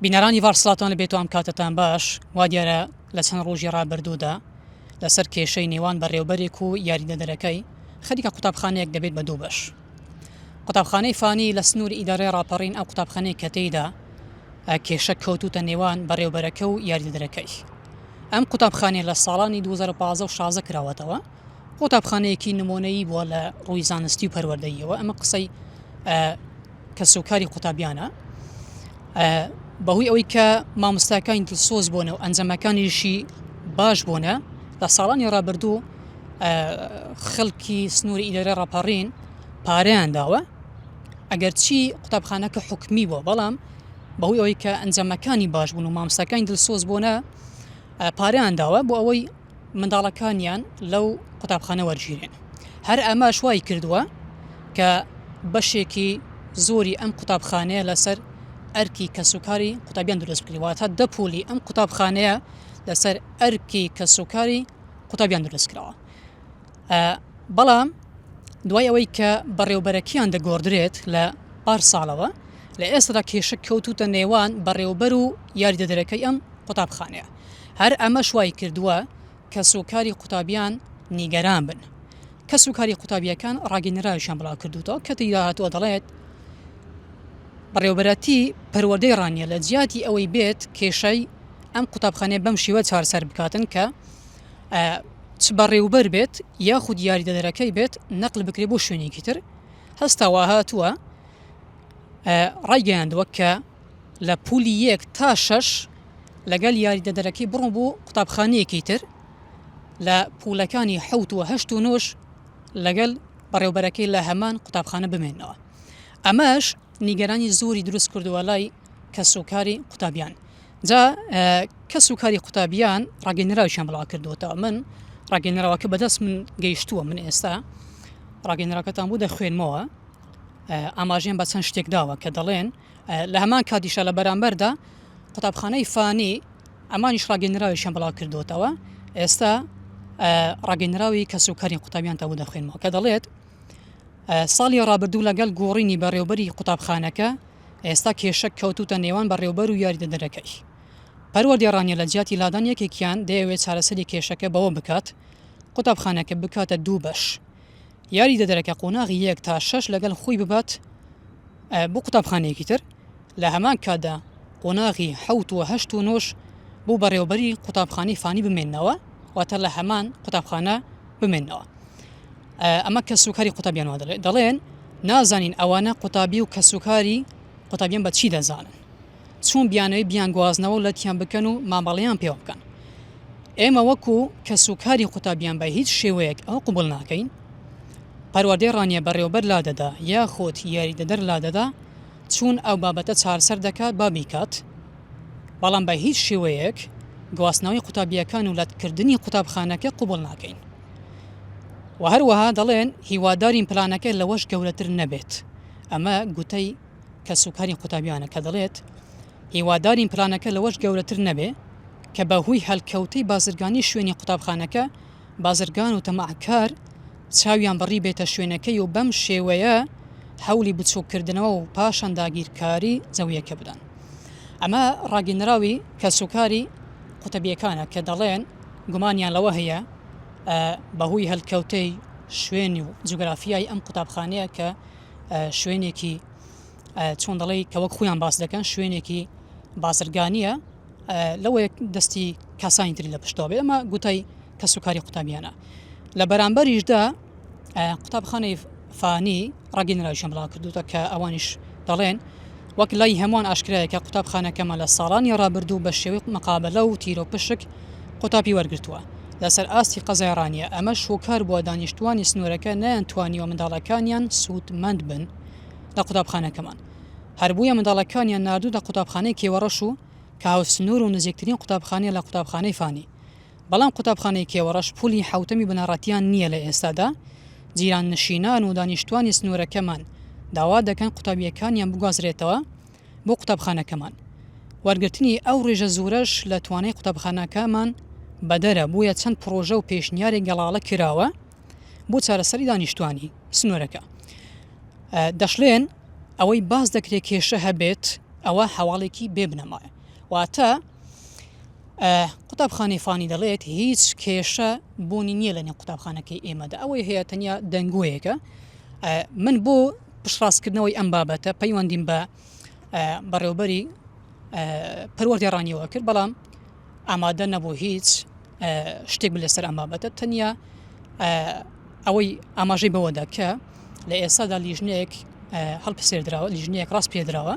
بینەرانی ڤار سڵاتان لە بێتوام کاتتان باش وا دیارە لە چەند ڕۆژی ڕابردوودا لەسەر کێشەی نێوان بەڕێوبەرێک و یاریدەدەرەکەی خەریکە قوتابخانەیەک دەبێت بە دوو بەش قوتابخانەی فانی لە سنوور ئیدارەی ڕاپەڕین ئەو قوتابخانەی کە تێیدا کێشە کەوتوتە نێوان بەڕێوبەرەکە و یاریدەدرەکەی ئەم قوتابخانێ لە ساڵانی 2015 و شازە کراوەتەوە قوتابخانەیەکی نمۆنەیی بووە لە ڕووی زانستی و پەروەردەیەوە ئەمە قسەی کەسوکاری قوتابیانە بەهۆی ئەوەی کە مامۆستاکانی دڵسۆز بۆنە و ئەنجەمەکانیشی باش بۆنە لە ساڵانی ڕابردوو خەڵکی سنووری ئیلێرە ڕاپەڕین پاریان داوە ئەگەرچی قوتابخانەکە حکمی بۆ بەڵام بەهۆی ئەوەی کە ئەنجەمەکانی باش بوون و مامسەکانی دڵسۆز بۆنە پاریان داوە بۆ ئەوەی منداڵەکانیان لەو قوتابخانە وەرگیرێن، هەر ئەمەش وایکردووە کە بەشێکی زۆری ئەم قوتابخانەیە لەسەر ئەرکی کەسوکاری قوتابیان دروست بکرێت، واتە دە پۆلی ئەم قوتابخانەیە لەسەر ئەرکی کەسوکاری قوتابیان دروست کراوە. بەڵام دوای ئەوەی کە بەڕێوبەرەکیان دەگۆڕدرێت لە پار ساڵەوە لە ئێستادا کێشە کەوتوتە نێوان بەڕێوبەر و یاریدەدەرەکەی ئەم قوتابخانەیە هەر ئەمە شوای کردووە کە سوکاری قوتابیان نیگەران بن کە سوکاری قوتابیەکان ڕاگەنراویشان بڵاو کردوتەوە کە تیدا هاتووە دەڵێت بەڕێوبەرەتی پەروەدەی ڕانیە لە جیاتی ئەوەی بێت کێشەی ئەم قوتابخانەیە بەم شێوە چارسەر بکاتن کە ئە چ بەڕێوبەر بێت یاخود یاریدەدەرەکەی بێت نەقل بکرێت بۆ شوێنێکی تر هەستاوە هاتووە ئە ڕایگەیاندووە کە لە پولی یەک تا شەش لەگەل یاریدەدەرەکەی بڕۆ بۆ قوتابخانەیەکی تر لە پولەکانی حوت و هەشت و نۆش لەگەل بەڕێوبەرەکەی لە هەمان قوتابخانە بمێنەوە ئەمەش نیگەرانی زۆری دروست کردووە لای کەسوکاری قوتابیان جا کەس و کاری قوتابیان ڕاگەنراویان بڵاو کردوەوە من ڕاگەنراوەکە بەدەست من گەیشتووە من ئێستا ڕاگەنراکەتان بوو دەخوێنمەوە ئاماژیان بە چەند شتێک داوە کە دەڵێن لە هەمان کاتیشە لە بەرامبەردا قوتابخانەی فانی ئەمانیش ڕاگەنراویان بڵاو کردوتەوە ئێستا ڕاگەنراوی کەس و کاری قوتابیان تەبوو دەخوێنمەوە کە دەڵێت ساڵی ڕابردوو لەگەڵ گۆڕینی بەڕێوبەری قوتابخانەکە ئێستا کێشە کەوتووتە نێوان بەڕێوبەر و یاریدەدەرەکەی پەروەردێڕانیە لە جیاتی لادان یەکێکیان دەیەوێت چارەسەری کێشەکە بەوە بکات قوتابخانەکە بکاتە دوو بەش یاریدەدەرەکە قۆناغی یەک تا شەش لەگەل خۆی ببات بۆ قوتابخانەیەکی تر لە هەمان کاتدا قۆناغی حەوت و هەشت و نۆش بۆ بەڕێوبەری قوتابخانەی فانی بمێنەوە واتە لە هەمان قوتابخانە بمێنەوە ئەمە کە سوکاری قوتابیان وا دەڵێت دەڵێن نازانین ئەوانە قوتابی و کەسوکاری قوتابیان بە چی دەزانن چون بیانەوەی بیان گوازنەوە و لەتیان بکەن و مامەڵیان پێوە بکەن ئێمە وەکو کەسوکاری قوتابیان بە هیچ شێوەیەک ئەو قوبل ناکەین پەروەردەی ڕانیە بەڕێوبەر لا دەدا یاخۆت یاریدەدەر لا دەدا چون ئەو بابەتە چارسەر دەکات با بیکات بەڵام بە هیچ شێوەیەک گواستنەوەی قوتابییەکان و لەتکردنی قوتابخانەکە قبوڵ ناکەین و هەروەها دەڵێن هیوادارین پلانەکە لەوەش گەورەتر نەبێت ئەمە گوتەی کەسوکاری قوتابیانە کە دەڵێت هیوادارین پلانەکە لەوەش گەورەتر نەبێ کە بە هوی هەلکەوتەی بازرگانی شوێنی قوتابخانەکە بازرگان و تەماعکار چاویان بەڕی بێتە شوێنەکەی و بەم شێوەیە هەولی بچووککردنەوە و پاشان داگیرکاری جەویەکە بدەن. ئەمە ڕاگیندراوی کەسوکاری قوتەبیەکانە کە دەڵێن گومانیان لەوە هەیە بەهوی هەلکەوتەی شوێنی و جوگرافیای ئەم قوتابخانەیە کە شوێنێکی چۆن دەڵی کە وەک خۆیان باس دەکەن شوێنێکی بازرگانیە، لەوەیەک دەستی کەسانی تری لە پشتەوە بێ ئەمە گوتای کەسوکاری قوتابیانە لە بەرامبەریشدا قوتابخانەی فانی ڕگینراوشم بڵاو کردوتە کە ئەوانیش دەڵێن وەک لای هەمووان ئاشکرایەکە قوتابخانەکەمە لە ساڵانی ڕابردوو بە شێوەی مقابلە و تیرۆ پشک قوتابی وەرگتووە لەسەر ئاستی قەزای ڕانیە ئەمە شوکار بووە دانیشتوانی سنوورەکە نیان توانیوە منداڵەکانیان سوودمەند بن لە قوتابخانەکەمان هەر بویە منداڵەکانیان ناردووتە قوتابخانەی کێوەڕەش و کە هاوسنوور و نزیکترین قوتابخانەیە لە قوتابخانەی فانی بەڵام قوتابخانەی کێوەڕەش پولی حەوتەمی بنەڕەتیان نییە لە ئێستادا جیراننشینان و دانیشتوانی سنوورەکەمان داوا دەکەن قوتابیەکانیان بگوازرێتەوە بۆ قوتابخانەکەمان وەرگرتنی ئەو ڕێژە زورەش لە توانای قوتابخانەکەمان بەدەرە بویە چەند پڕۆژە و پێشنیاری گەڵاڵە کراوە بۆ چارەسەری دانیشتوانی سنوورەکە دەشلێن ئەوەی باز دەکرێت کێشە هەبێت ئەوە هەواڵێکی بێ بنەمایە واتە قوتابخانەی فانی دەڵێت هیچ کێشە بوونی نییە لە نێو قوتابخانەکەی ئێمەدا ئەوەی هەیە تەنیا دەنگوەیەەکە من بۆ پشڕاستکردنەوەی ئەم بابەتە پەیوەندیم بە بەڕێوبەری پەروەردەڕانیەوە کرد بەڵام ئامادە نەبوو هیچ شتێک لەسەر ئەم بابەتە تەنیا ئەوەی ئاماژەی بەوەدا کە لە ئێستادا لیژنەیەک هەڵپسێردراوە لیژنەیەک ڕاست پێدراوە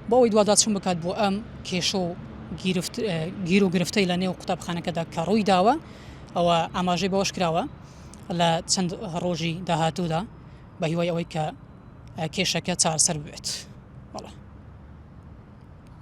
بۆەوەی دوواداچون بکات بۆ ئەم کێشە و گیر و گرفتەی لە نێو قوتابخانەکەدا کە ڕووی داوە ئەوە ئاماژەی بەوەش کراوە لە چەند ڕۆژی داهاتوودا بە هیوای ئەوەی کە کێشەکە چارسەر بێت بەڵێ